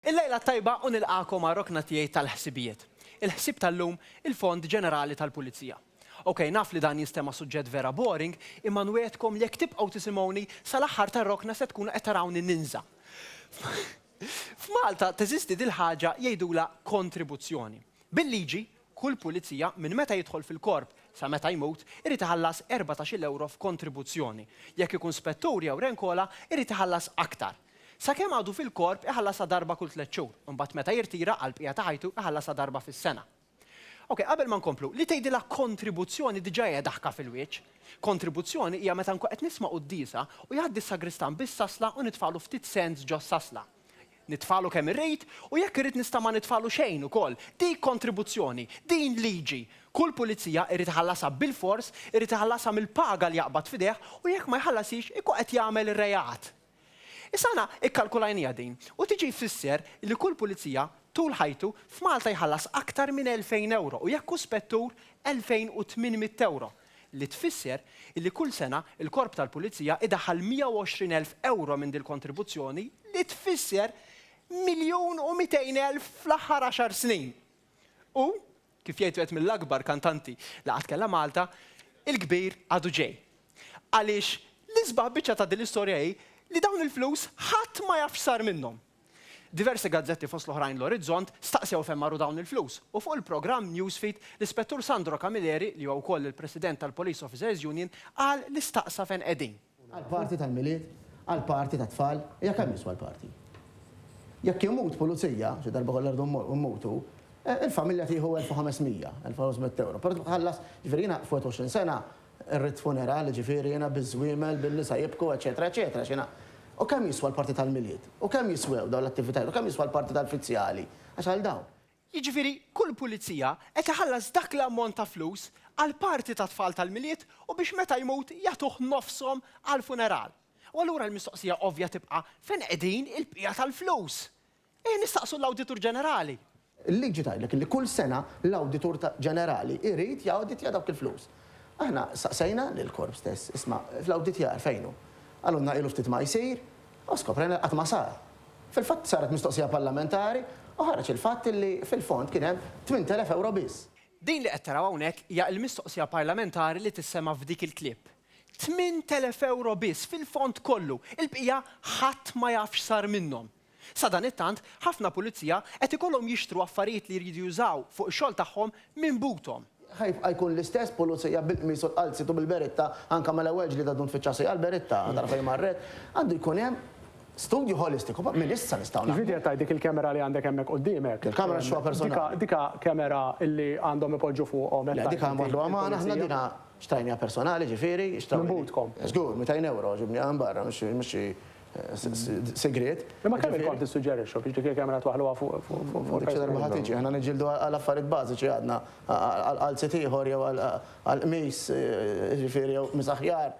Il-lejla t-tajba u nilqagħkom għar-rokna tiegħi tal-ħsibijiet. Il-ħsieb tal-lum, il-Fond Ġenerali tal-Pulizija. Ok, naf li dan jinstema' suġġett vera boring, imma nwiegħedkom li jekk tibqgħu tisimgħuni, sal-aħħar tar-rokna se tkunu qed tarawni ninża'. F'Malta teżisti dil-ħaġa jgħidulha kontribuzzjoni. Bil-liġi, Kull pulizija, minn meta jidħol fil-Korp sa meta jmut, irid iħallas erbatax-il ewro f'kontribuzzjoni. Jekk ikun spettur jew renkola, irid iħallas aktar. Sakemm għadu fil-Korp iħallasha darba kull tliet xhur, imbagħad meta jirtira, għall-bqija ta' ħajtu iħallasha darba fis-sena. Ok, qabel ma nkomplu, li tgħidilha kontribuzzjoni diġà hija daħka fil-wieċ. Kontribuzzjoni hija meta nkun qed nisma' quddiesa u jgħaddi s-sagristan bis-sasla u nitfagħlu ftit cents ġos-sasla. nitfalu kemm irrid u jekk irrid nista' ma nitfalu xejn ukoll. Dik kontribuzzjoni, din liġi. Kull pulizija irid iħallasha bilfors, irid iħallasha mill-paga li jaqbad f'idejh u jekk ma jħallashiex ikun qed jagħmel reat. Issa aħna ikkalkulajniha din u tiġi jfisser li kull pulizija tul ħajtu f'Malta jħallas aktar minn 2,000 ewro u jekk hu spettur 2,800 ewro. li tfisser illi kull sena l-Korp tal-Pulizija idaħħal 120 elf ewro minn dil-kontribuzzjoni li tfisser miljun u mitejn elf fl-aħħar għaxar snin. U, kif jgħid wieħed mill-akbar kantanti li qatt kellha Malta, il-kbir għadu ġej. Għaliex l-isbaħ biċċa ta' dil-istorja hi li dawn il-flus ħadd ma jaf x'sar minnhom. Diversi gazzetti fost l-oħrajn l-Orizzont staqsew fejn marru dawn il-flus u fuq il-programm Newsfeed l-Ispettur Sandro Camilleri li huwa wkoll il-President tal-Police Officers Union qal li staqsa fejn qegħdin. Għall-party tal-Milied? Għall-party tat-tfal? Hija kemm jiswa l-party? Jekk imut pulizija, xi darba kollha rridu mmutu, il-familja tieħu 1,500, 1,500 ewro. Però tibqa' tħallas, jiġifieri jiena f'21 sena, Ir-ritt funerali, ġifieri, jiena biż-żwiemel, bin-nisa jibku, eċċetera, eċċetera, x'inha? U kemm jiswa l-parti tal-Milied? U kemm jiswew dawn l-attivitajiet? U kemm jiswa l-parti tal-fizzjali? Għax għal dawn. Jiġifieri, kull pulizija qed iħallas dak l-ammont ta' flus għall-parti tat-tfal tal-Milied u biex meta jmut jagħtuh nofshom għall-funeral. U allura l-mistoqsija ovvja tibqa' fejn qegħdin il-bqija tal-flus? Eh, nistaqsu l-Awditur Ġenerali! Il-liġi tgħidlek li kull sena l-Awditur Ġenerali jrid jawditja dawk il-flus. Aħna staqsejna lill-Korp stess, isma', l-awditjar fejn hu? Qalulna ilu ftit ma jsir, u skoprejna li qatt ma sar. Fil-fatt saret mistoqsija parlamentari u ħareġ il-fatt li fil-fond kien hemm tmint elef ewro biss. Din li qed taraw hawnhekk hija l-mistoqsija parlamentari li tissema' f'dik il-clip. Tmint elef ewro biss fil-fond kollu, il-bqija ħadd ma jaf x'sar minnhom. Sadanittant, ħafna pulizija qed ikollhom jixtru affarijiet li jridu jużaw fuq ix-xogħol tagħhom minn buthom. Ħa jibqa' jkun l-istess pulizija bil-qmis u l-qalziet u bil-beretta, anke mal-ewwel ġlieda ddum tfittxi għasajja għall-beretta, tara fejn marret. Għandu jkun hemm studju holistiku, però minn issa nistgħu naħdmu. Jiġifieri qed tgħid dik il-camera li għandek hemmhekk qudiemek. Il-camera nixtruha personali. Dika camera li għandhom ipoġġu fuqhom hekk tgħid inti. Le, dika nwaħħluha magħna aħna, dina xtrajniha personali, jiġifieri. Minn buthkom. Żgur, mitejn ewro, ġibniha minn barra, mhux xi. segret. Imma kemm il-kont tissuġġerixxu biex dik il-kamera twaħħluha fuq il-persuna? Ma ħatiġi, aħna niġġieldu għal affarijiet bażiċi għadna, għal qalziet ieħor jew għal qmis, jiġifieri jew qmis aħjar.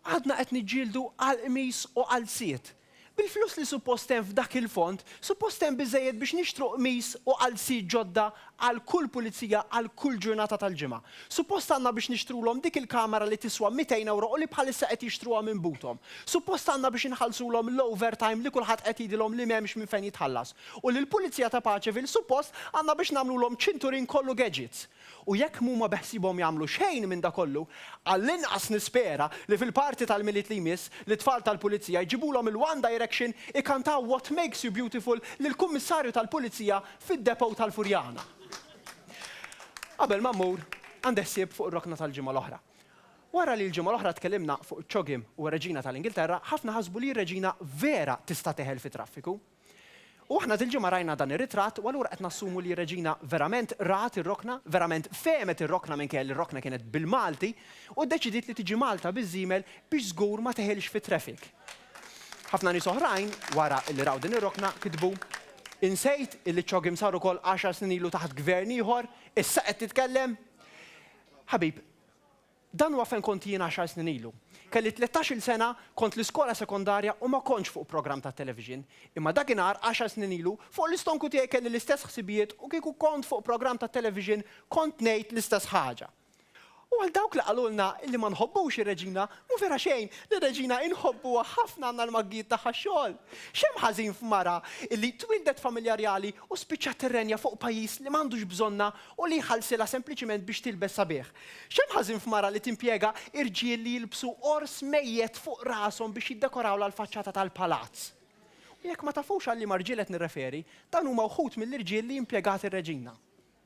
Għadna qed niġġieldu għal qmis u qalziet. Bil-flus li suppost hemm f'dak il-fond, suppost hemm biżżejjed biex nixtru qmis u qalziet ġodda għal kull pulizija għal kull ġurnata tal-ġimgħa. Suppost għandna biex nixtrulhom dik il-kamera li tiswa mitejn ewro u li bħalissa qed jixtruha minn buthom. Suppost għandna biex inħallsulhom l-overtime li kulħadd qed jgħidilhom li m'hemmx minn fejn jitħallas. U lill-pulizija ta' Paceville suppost għandna biex nagħmlulhom ċinturin kollu gadgets. U jekk m'huma beħsiebhom jagħmlu xejn minn da kollu, għall-inqas nispera li fil-party tal-Milied li jmiss, lit-tfal tal-pulizija jġibulhom il-One Direction ikantaw What Makes You Beautiful lill-Kummissarju tal-Pulizija fid-depot tal-Furjana. Qabel ma mmur, għandi ħsieb fuq ir-rokna tal-ġimgħa l-oħra. Wara li l-ġimgħa l-oħra tkellimna fuq iċ-ċogħol u r-Reġina tal-Ingilterra, ħafna ħasbu li r-Reġina vera tista' teħel fit-traffiku. U aħna dil-ġimgħa rajna dan ir-ritratt u allura qed nassumu li r-Reġina verament rat ir-rokna, verament fehmet ir-rokna minkejja li r-rokna kienet bil-Malti u ddeċidiet li tiġi Malta biż-żiemel biex żgur ma teħilx fit-traffic. Ħafna nies oħrajn, wara li raw din ir-rokna, kitbu, Insejt illi ċ-CHOGM sar ukoll għaxar snin ilu taħt gvern ieħor, issa qed titkellem? Ħabib, dan huwa fejn kont jien għaxar snin ilu. Kelli tlettax-il sena, kont l-iskola sekondarja u ma kontx fuq programm tat-television. Imma dakinhar, għaxar snin ilu, fuq l-istonku tiegħi kelli l-istess ħsibijiet u kieku kont fuq programm tat-television kont ngħid l-istess ħaġa. U għal dawk li qalulna li ma nħobbux ir-Reġina, mhu vera xejn, lir-Reġina inħobbuha ħafna għandna l-maggijiet tagħha x-xogħol. X'hemm ħażin f'mara li twieldet familja rjali u spiċċat tirrenja fuq pajjiż li m'għandux bżonnha u li jħallsilha sempliċiment biex tilbes sabiħ? X'hemm ħażin f'mara li timpjega irġiel li jilbsu ors mejjet fuq rashom biex jiddekorawlha l-faċċata tal-palazz? U jekk ma tafux għal liema rġiel qed nirreferi, dawn huma wħud mill-irġiel li impjegat ir-Reġina.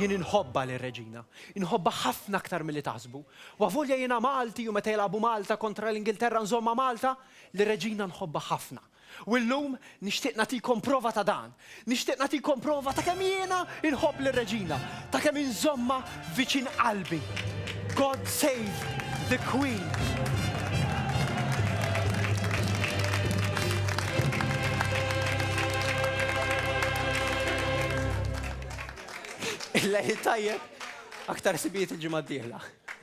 Jien inħobbha lil Reġina. Inħobbha ħafna aktar milli taħsbu. U avolja jiena Malti u meta jilagħbu Malta kontra l-Ingilterra nżommha Malta, lil Reġina nħobbha ħafna. U llum nixtieq nagħtikom prova ta' dan. Nixtieq nagħtikom prova ta' kemm jiena nħobb lil Reġina, ta' kemm inżommha viċin qalbi. God save the Queen! Il-lejl it-tajjeb, aktar ħsibijiet il-ġimgħa d-dieħla.